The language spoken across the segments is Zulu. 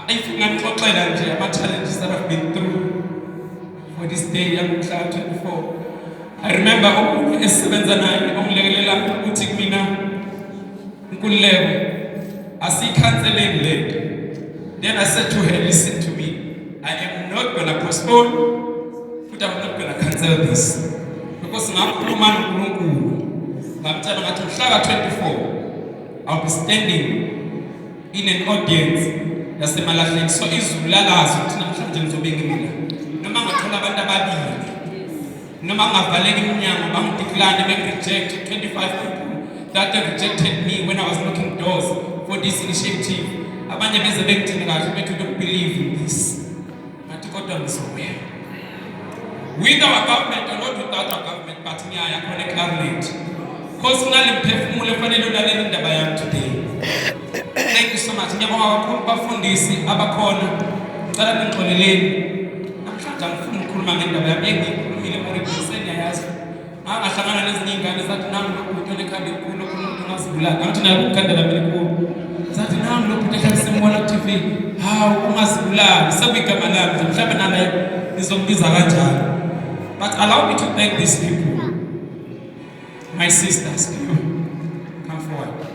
if unganixoxela nje ama-challenges that have been through for this day yangomhla 24 i remember omunye esisebenza naye ongilekelela ukuthi kumina nkululeko asiyikhanseleni le nto then i said to her listen to me i am not gonna postpone futhi i'm not gonna cancel this because ngakhuluma nonkulunkulu ngamtshela ngathi mhlaka 24 i'll be standing in an audience yasemalahleni so izulu lalazi ukuthi namhlanje ngizobe ngimila noma ngathola abantu ababili noma ngavaleka iminyango bangidiklane bengi-reject 25 people that they rejected me when i was knocking doors for this initiative abanye beze bengithini kahle bethu don't believe in this ngathi kodwa ngizoya with our government or not without our government but ngiyaya khona ecarnet cause nali mphefumulo efanele ulalele indaba yami today thank you so much ngiyabonga kakhulu bafundisi abakhona ngicela ningixoleleni namhlanje angifuni ukukhuluma ngendaba yami engiyikhulumile morikuseni yayazi angahlangana nezinye iy'ngane zathi nami lo bhuti onekhanda elikhulu okhona umuntu ongazibulala ngathi naye kukhanda lami elikhulu zathi nami lo bhuti ehlale simbona ku-tv hawu ungazibulali sekuyigama lami nje mhlawumbe nanaye nizombiza kanjalo but allow me to thank these people my sisters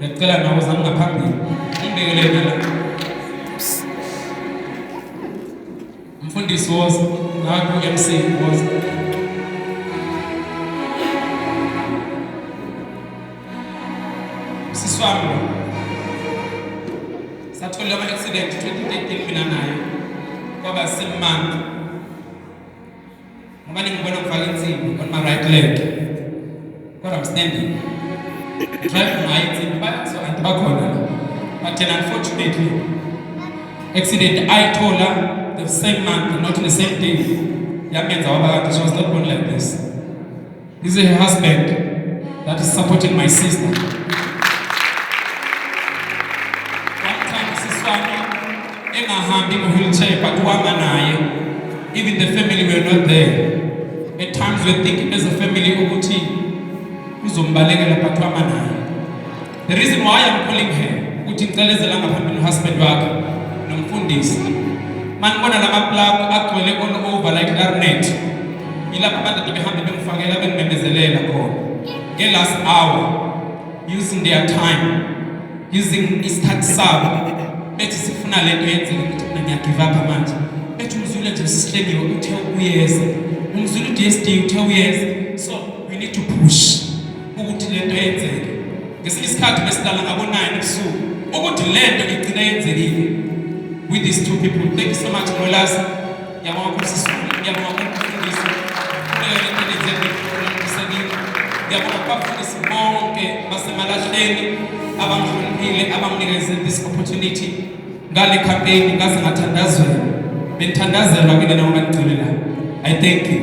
Ngicela nawe uzame ngaphambili. Ngibekele la. Mfundisi woza, naku MC woza. Siswami. Sathola ama accident 2013 mina naye. Kwaba simanga. Ngoba ningibona ngifaka insimbi on my right leg. Kodwa I'm standing. Drive ngayo insimbi bayazo anti bakhona la. But then unfortunately accident ayithola the same month not the same day. Yamenza waba kanti she was not born like this. This is her husband that is supporting my sister. Wamthanda sisi wami engahambi ngo-wheelchair but uhamba naye. Even the family were not there. At times we think as a family ukuthi uzombalekela but uhamba naye. The reason why I'm calling her ukuthi ngicelezela ngaphambili husband wakhe nomfundisi. Manibona lama plug agcwele all over like garnet. Yilapha abantu behambe bemfakela bengimemezelela khona. Nge last hour using their time using isikhathi sabo bethi sifuna lento yenzeke ukuthi mina ngiyagive up manje. Bethi umzulu nje sihlengiwe uthe uyeza. Umzulu DSD uthe uyeza. So we need to push. ukuthi le nto yenzeke ngesinye isikhathi besidala ngabonayini ebusuku ukuthi le nto igcina yenzekile with these two people thank you so much ngolazi yabonga kumsisulu yabonga kumfundisi yabonga kubafundisi bonke basemalahleni abangihloniphile abanginikeze this opportunity ngale campaign ngaze ngathandazela benthandazela kule noma ngigcine la i thank you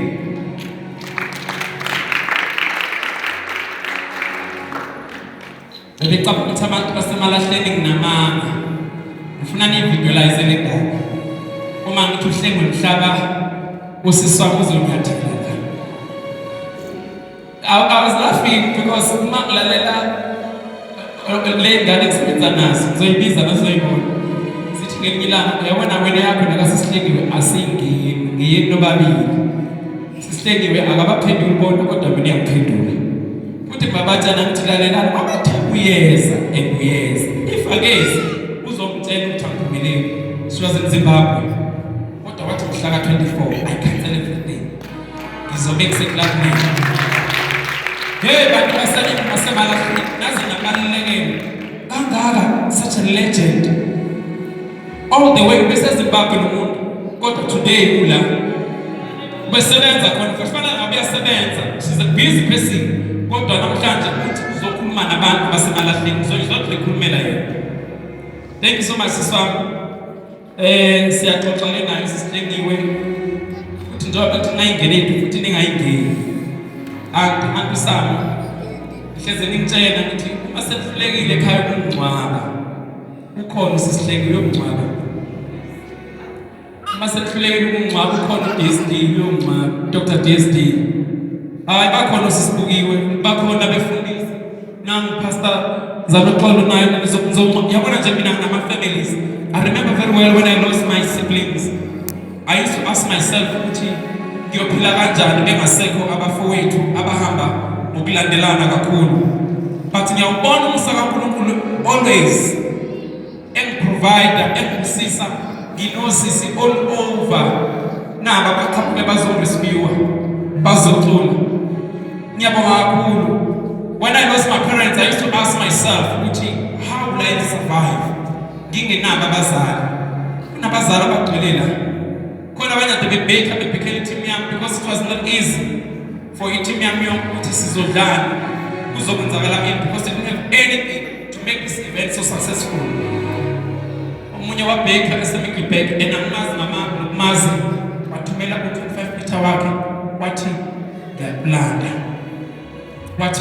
Ngicabanga ukuthi abantu basemalahleni nginamanga. Ngifuna nivisualize le ndaba. Uma ngithi uhlengwe mhlaba usiswa kuzonyatheleka. I, I was laughing because uma ngilalela le ngane ngisebenza nazo ngizoyibiza nazoyibona sithi ngelinye ilanga yabona wena yakho nakasisihlengiwe asingeni ngiyeni nobabili sisihlengiwe akabaphenduli bonke kodwa mina uyakuphendula futhi babatshana ngithi lalelani abathi uyeza and uyeza ifakezi uzomtshela ukuthi angiphumeleli siwaze mzimbabwe kodwa wathi mhlaka 24 i cancel everything Ngizobekise kulakubili. Hey bantu basebenzi basemalafini naze nabalulekeni kangaka such a legend all the way besezimbabwe nomuntu kodwa today ula besebenza khona kufanele ngabe uyasebenza she's a busy person kodwa namhlanje uthi uzokhuluma nabantu basemalahleni so izodla ekhulumela yena thank you so much siswami Eh siyaxoxa ke naye sisilengiwe ukuthi njengoba kuthi ningayingeni into futhi ningayingeni. Anti anti sami. Hleze ningitshela ukuthi uma sekuhlekile ekhaya kungcwaba. Ukhona sisilengiwe yokungcwaba. Uma sekuhlekile ukungcwaba ukhona uDSD yokungcwaba. Dr DSD. Hayi bakhona sisibukiwe bakhona befundisa Nangu Pastor Zaloxolo naye nizokuzonqo. Yabona nje mina ngama families. I remember very well when I lost my siblings. I used to ask myself ukuthi ngiyophila kanjani bengasekho abafowethu abahamba ngokulandelana kakhulu. But ngiyawubona umusa kaNkulunkulu always engiprovider engimsisa nginosisi all over naba baqhamuke bazorescuwa bazocula ngiyabonga kakhulu when i lost my parents i used to ask myself ukuthi how will i survive ngingenabo abazali kunabazali abagcwele la khona abanye ade bebhekha bebhekhela i-team yami because it was not easy For iteam yami yonke ukuthi sizodlala kuzokwenzakala in because they didn't have anything to make this event so successful. Omunye wabheka esemigibhek enamazi namazi wathumela u-25 meter wakhe wathi ngiyakulanda.